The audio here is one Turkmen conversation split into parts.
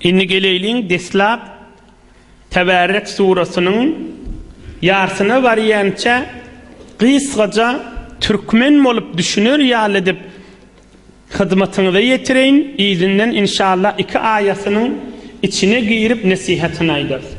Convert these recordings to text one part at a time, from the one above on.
Indi geleýliň deslap Teberrek surasynyň ýarsyna barýança gysgaja türkmen bolup düşüner ýaly edip hyzmatyňyza ýetireýin, yzyndan inşallah iki aýatynyň içine girip nesihatyny aýdarys.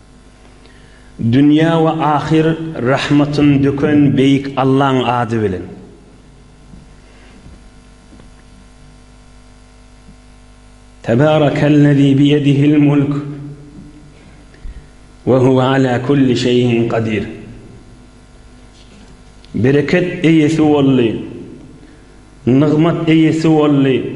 Dünýä we ahyr rahmatyny döken Beýik Allaň ady bilen. Tebarakellezî biyedihil mulk we huwe alâ kulli şeyin kadir. Bereket eýesi boldy, nygmat eýesi boldy.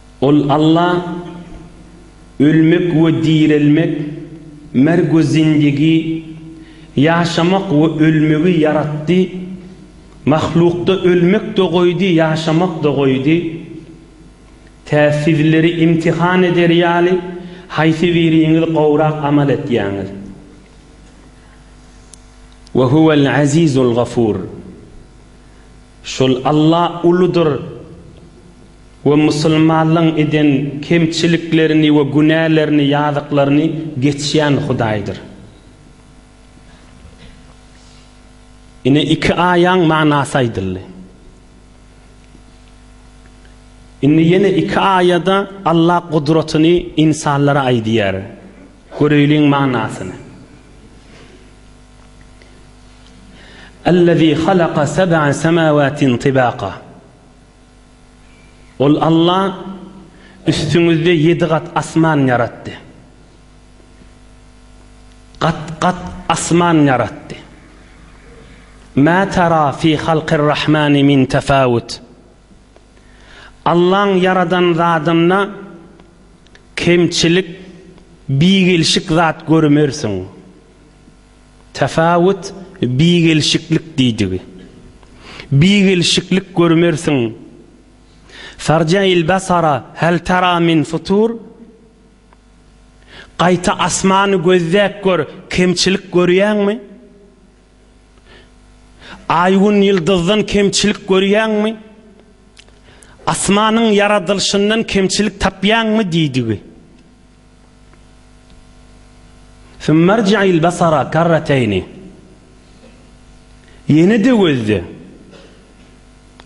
Ol Alla, ölmek we direlmek, merg we zindigi, ýaşamak we ölmegi ýaratdy, mahlukda ölmek-de goýdy, ýaşamak-da goýdy. Tä sizleri imtihan eder ýaly, haýsy biriňiz gowrak amal etýäňiz. We huwel Azizul Gafur. Şol Alla uludyr. we musulmanlygyň eden kemçiliklerini we günälerini, ýazyklaryny geçýän Hudaýdyr. Ine iki aýaň manasy aýdyldy. Indi ýene iki aýada Alla gudratyny ynsanlara aýdýar. Göreýliň manasyny. Allazi halaka seb'a semawatin tibaqa. Ol Alla üstüňizde ýedi gat asman ýaratdy. Gat-gat asman ýaratdy. Mä tara fi halkir-rahmani min tefawut. Allaň ýaradan zadynda kemçilik, bigelşik zat görmersiň. Tapawut bigelşiklik diýdigi. Bigelşiklik görmersiň. Tarja il basara hal tara min futur, Gaýta asmany gözläp gör, kemçilik görýäňmi? Aý-Gün ýyldyzdan kemçilik görýäňmi? Asmanyň ýaradylşyndan kemçilik tapýaňmy diýdigi. Sümme irji'il besara kerreteýni, Ýene-de gözle,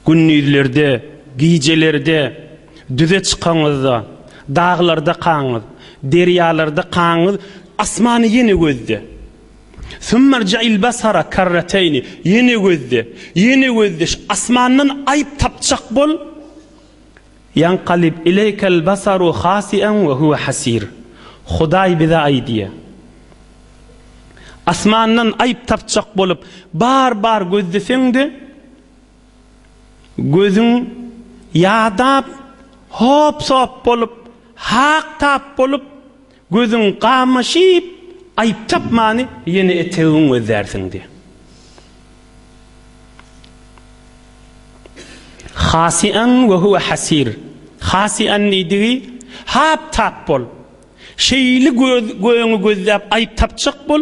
gündizlerde, gijelerde, düze çykaňyzda, daglarda kaňyz, derýalarda kaňyz, asmany ýene gözle. Sümme irji'il besara kerreteýni, Ýene gözle, ýene gözle, asmandan aýyp tapjak bol. Ýankalib ileýkel basaru hasi'en we huwe hasir. Hudaý bize aýdýa. Asmandan aýyp tapjak bolup bar bar gözleseň-de, gözüň ýadap, hop-sop bolup, hak tap bolup, Gözüň gamaşyp, aýyp tapmany ýene etegiň gözlärsiň diýýär. Hasian we huwe hasir. Hasian diýdigi, Hap-tap bol. Şeýle göz göýüňi gözläp aýyp tapjak bol.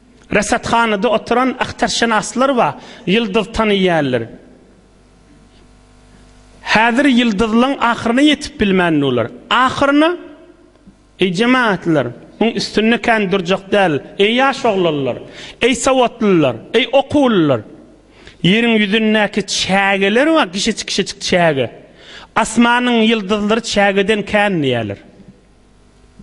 Resathanada oturan ahtarşenaslar ba ýyldyz tanaýýarlar. Häzir ýyldyzlaň ahyryna ýetip bilmän durlar. Ahyryna, Eý jemagatlar, muň üstünde kän durjak däl, eý ýaş oglanlar, eý sowatlylar, eý okuwlylar! Ýeriň ýüzündäki çägeler ba gişecik-gişejik çäge. Asmanyň ýyldyzlary çägeden kän diýýärler.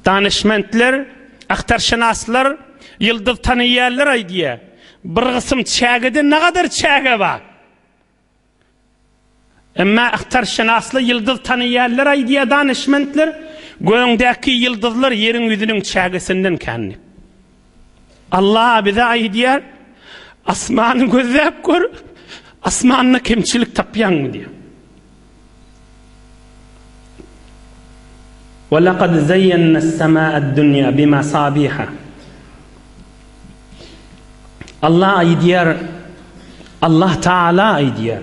Danyşmentler, agtarşynaslar, ýyldyz tanaýýanlar aýdýar, Bir gysym çägede nagadar çäge bar. Emma agtarşynaslar, ýyldyz tanaýýanlar aýdýar, Danyşmentler, Gögdäki ýyldyzlar ýeriň ýüzüniň çägesinden kän diýip. Allah bize aýdýar, Asmany gözläp gör, asmanda kemçilik tapýaňmy diýýär. Ve lekad zeyyenna es-sema'ad dunya bimasabiha. Allah aýdýar, Allah Taala aýdýar.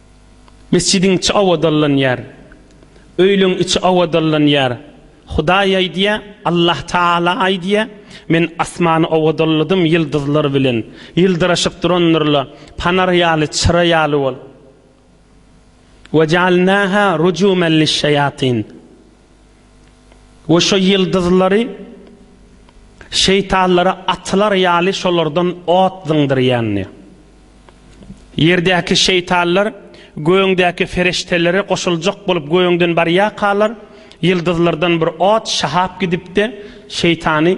Mesjidiň içi abadanlanýar. Öýleriň içi abadanlanýar. Hudaý aýdýar, Allah Tagala aýdýar, Men asmany abadanladym ýyldyzlar bilen. Ýyldyraşyp durandyrlar. Panar ýaly, çyra ýaly bol. Wejalnaha rujuman lis-şaýatyn. we şo ýyldyzlary şeýtanlara atylar ýaly şolardan ot zyňdyrýandy. Ýerdäki şeýtanlar gögüňdäki feriştelere goşuljak bolup gögüňden barýarkalar, ýyldyzlardan bir ot şahap gidip-de, şeýtany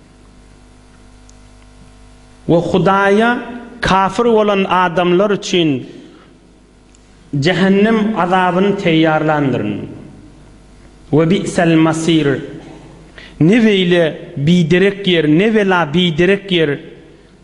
we Hudaýa kafir bolan adamlar üçin jähennem azabyny teýýarlandyryn. We bi'sel masir, ne beýle biderek ýer, ne bela biderek ýer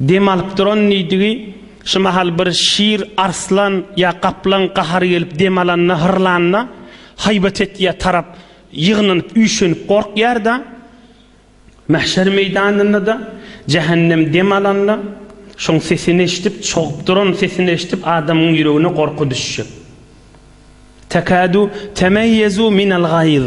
Dem alyp duran nidigi, şu mahal bir şir, arslan ýa gaplaň gahary gelip dem alanda, hyrlanda, haýbat etýär, tarap ýygnanyp, üýşenip gorkýar-da. Mähşer meýdanynda-da, jähennem dem alanda, şoň sesini eşidip, çogup duran sesini eşidip, adamyň ýüregine gorky düşjek. Tekadu temeýezu minel gaýz.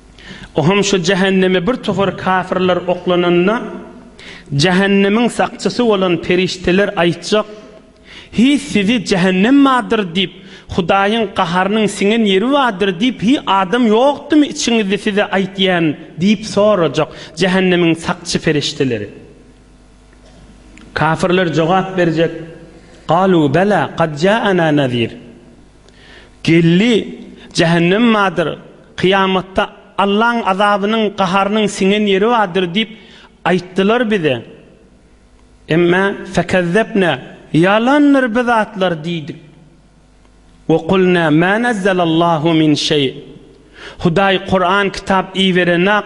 O hem şu jähenneme bir topar kafirler oklananda, jähennemiň sakçysy bolan perişdeler aýtjak, Hiý, sizi jähennem bardyr diýip, Hudaýyň gaharynyň siňen ýeri bardyr diýip, hiý, adam ýokdumy içiňizde size aýdýan? diýip sorajak jähennemiň sakçy perişdeleri. Kafirler jogap berjek, Galuu belaa, kad jaanaa nazir. Geldi, jähennem bardyr, kyýamatda Allaň azabynyň, gaharynyň siňen ýeri bardyr diýip aýtdylar bize. Emme, fekezzebne, ýalandyr bi zatlar diýdik. We kulne, mä nezzelallahu min şeý, Hudaý Kuran kitap iberenak,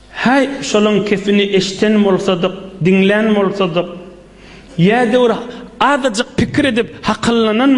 Häý, şolaň kepini eşden bolsadyk, diňlän bolsadyk. Ýa döwür azajyk pikir edip hakyllananmy?